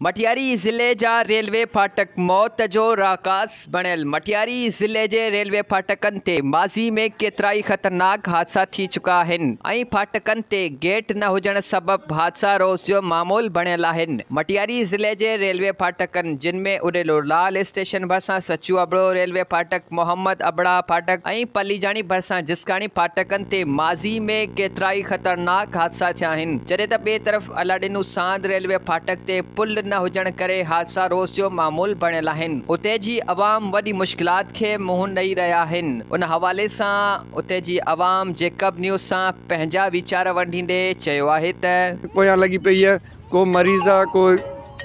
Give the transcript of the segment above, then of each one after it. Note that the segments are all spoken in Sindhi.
مٽياري ضلعي جا ريلوي ڦاٽڪ موت جو راهڪاس بڻيل، مٽياري ضلعي جي ريلوي ڦاٽڪن تي ماضي ۾ ڪيترائي خطرناڪ حادثا ٿي چڪا آهن ۽ ڦاٽڪن تي گيٽ نه هجڻ سبب حادثا روز جو معمول بڻيل آهن، مٽياري ضلعي جي ريلوي ڦاٽڪن جن ۾ اڏيلو لال اسٽيشن ڀرسان سچو ابڙو ريلوي ڦاٽڪ، محمد ابڙا ڦاٽڪ ۽ پليجاڻي ڀرسان جسڪاڻي ڦاٽڪن تي ماضي ۾ ڪيترائي خطرناڪ حادثا ٿيا آهن، جڏهن ته ٻئي طرف. الاڏنو ساند ريلوي ڦاٽڪ تي پل نه هجڻ ڪري حادثا روز جو معمول بڻيل آهن، اتي جي عوام وڏي مشڪلات کي منهن ڏئي رهيا آهن، ان حوالي سان اتي جي عوام جيڪب نيوز سان پنهنجا ويچار ونڊيندي چيو آهي ته. پويان لڳي پئي آ ڪو مريض آ ڪو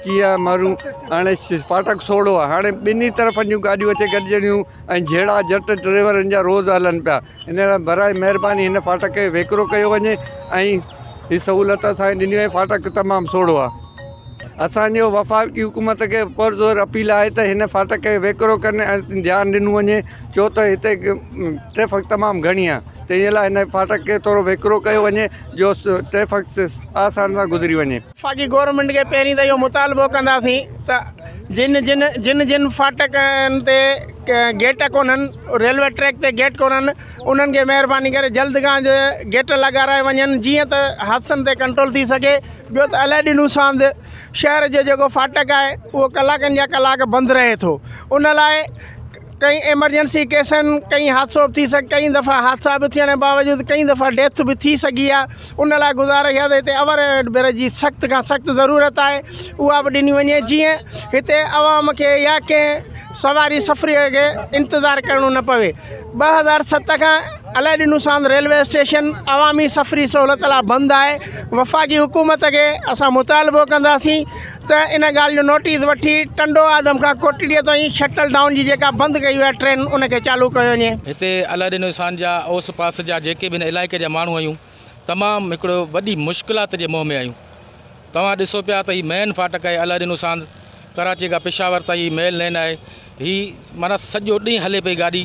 ڪيئن آ مارون هاڻي ڦاٽڪ سوڙهو آ هاڻي ٻنهي طرفن جون گاڏيون اچي گڏجنديون ۽ جهيڙا جٽ ڊريورن جا روز هلن پيا ان لاء برائي مهرباني هن ڦاٽڪ کي ويڪرو ڪيو وڃي ۽ هي سهولت اسانکي ڏني وئي ڦاٽڪ تمام سوڙهو آ اسانجو وفاقي حڪومت کي پرزور اپيل آهي ته هن ڦاٽڪ کي ويڪرو ڪن ۽ ڌيان ڏنو وڃي ڇو ته هتي ٽريفڪ تمام گهڻي آ تنهنجي لاء هن ڦاٽڪ کي ٿورو ويڪرو ڪيو وڃي جو ٽريفڪ آسان سان گذري وڃي وفاقي گورنمينٽ کي پهرين ته اهو مطالبو ڪنداسين ته جن جن جن جن ڦاٽڪن تي گيٽ ڪونهن ريلوي ٽريڪ تي گيٽ ڪونهن انهن کي مهرباني ڪري جلد کان جلد گيٽ لڳارايا وڃن جيئن ته حادثن تي ڪنٽرول ٿي سگهي ٻيو ته الاڏينو ساند شهر جو جيڪو ڦاٽڪ آهي اهو ڪلاڪن جا ڪلاڪ بند رهي ٿو ان لاء ڪئين ايمرجنسي ڪيسن ڪئين حادثو به ٿي سگهي ڪئين دفعا حادثا به ٿيڻ باوجود ڪئين دفعا ڊيٿ به ٿي سگهي آهي ان لاء گذارش آهي هتي اوور هيڊ برج جي سخت کان سخت ضرورت آهي اها به ڏني وڃي جيئن هتي عوام کي يا ڪنهن سواري سفري کي انتظار ڪرڻو نه پوي ٻه هزار ست کان الاء ڏنو سان ريلوي اسٽيشن عوامي سفري سهولت لاء بند آهي وفاقي حڪومت کي اسان مطالبو ڪنداسين ته ان ڳالهه جو نوٽيس وٺي ٽنڊو آدم کان ڪوٽڙيء تائين شٽل ڊائون جي جيڪا بند ڪئي وئي آهي ٽرين ان کي چالو ڪيو وڃي. هتي الهڏينوستان جا اوس پاس جا جيڪي به هن علائقي جا ماڻهو آهيون تمام هڪڙو وڏي مشڪلات جي منهن ۾ آهيون توهان ڏسو پيا ته هي مين فاٽڪ آهي الهڏينوستان ڪراچي کان پشاور تائين هي ميل لين آهي هي معنيٰ سڄو ڏينهن هلي پئي گاڏي،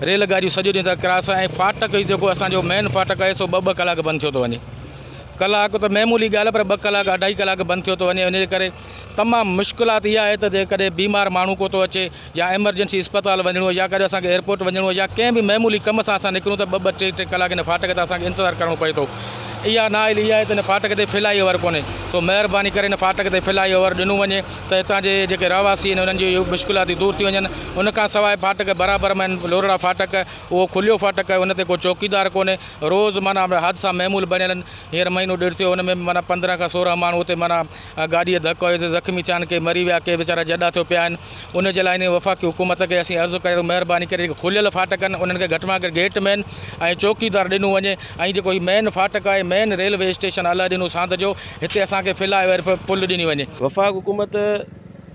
ريل گاڏيون سڄو ڏينهن ته ڪراس ۽ ڦاٽڪ جيڪو اسان جو مين ڦاٽڪ آهي سو ٻه ٻه ڪلاڪ بند ٿيو ٿو وڃي. ڪلاڪ ته معمولي ڳالهه پر ٻه ڪلاڪ اڍائي ڪلاڪ بند ٿيو ٿو وڃي ان جي ڪري تمام مشڪلات اها آهي ته جيڪڏهن بيمار ماڻهو ڪو ٿو اچي يا ايمرجنسي اسپتال وڃڻو هو يا ڪڏهن اسان کي ايئرپورٽ وڃڻو هو يا ڪنهن به معمولي ڪم سان اسان نڪرون ته ٻه ٻه ٽي ٽي ڪلاڪ ان ڦاٽڪ تي اسان کي انتظار ڪرڻو پئي ٿو. اها نااهلي اها آهي ته ان ڦاٽڪ تي فلائي اوور ڪونهي سو مهرباني ڪري ان ڦاٽڪ تي فلائي اوور ڏنو وڃي. ته هتان جي جيڪي رهواسي آهن انهن جون مشڪلاتون دور ٿي وڃن ان کان سواء ڦاٽڪ برابر ۾ آهن لورڙا ڦاٽڪ اهو کليو ڦاٽڪ آهي ان تي ڪو چوڪيدار ڪونهي روز معنيٰ حادثا معمول بڻيل آهن هينئر مهينو ڏيڍ ٿيو ان ۾ به معنيٰ پندرهن کان سورهن ماڻهو اتي معنيٰ گاڏيء جو ڌڪ هيو سي زخمي ٿيا آهن ڪي مري ويا ڪي ويچارا جڏا ٿيو پيا آهن ان جي لاء هن وفاقي حڪومت کي اسين عرض ڪيو مهرباني ڪري جيڪي کليل ڦاٽڪ آهن انهن کي گهٽ مان گهٽ گيٽ مين ۽ چوڪيدار ڏنو وڃي ۽ جيڪو هي مين ڦاٽڪ آهي مين ريلوي اسٽيشن الاء ڏنو ساند جو هتي اسان کي فلائي اوير پ پل ڏني وڃي. وفاق حڪومت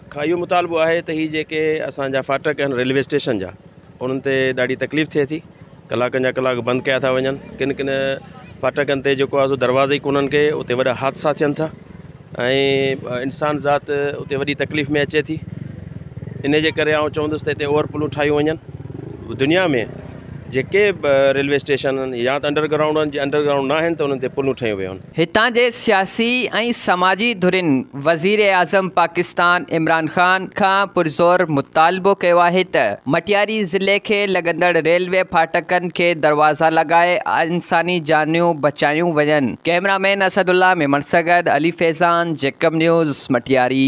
کان اهو مطالبو آهي ته هي جيڪي اسان جا ڦاٽڪ آهن ريلوي اسٽيشن جا انهن تي ڏاڍي تڪليف ٿئي ٿي ڪلاڪن جا ڪلاڪ بند ڪيا ٿا وڃن ڪن ڪن ڦاٽڪن تي جيڪو آهي سو دروازا ئي ڪونهن ڪي اتي وڏا حادثا ٿين ٿا ۽ انسان ذات اتي وڏي تڪليف ۾ اچي ٿي ان جي ڪري آئون چوندس ته هتي اوور پلون ٺاهيون وڃن دنيا ۾ جيڪي به ريلوي اسٽيشن آهن يا ته انڊرگرائونڊ آهن جي انڊرگرائونڊ ناهن ته انهن تي پلون ٺهيون ويون هتان جي سياسي ۽ سماجي ڌرين وزيراعظم پاڪستان عمران خان کان پرزور مطالبو ڪيو آهي ته مٽياري ضلعي کي لڳندڙ ريلوي ڦاٽڪن کي دروازا لڳائي انساني جانيون بچايون وڃن، cameraman Asadullah Memon سان گڏ علي فيضان، جيڪب نيوز، مٽياري.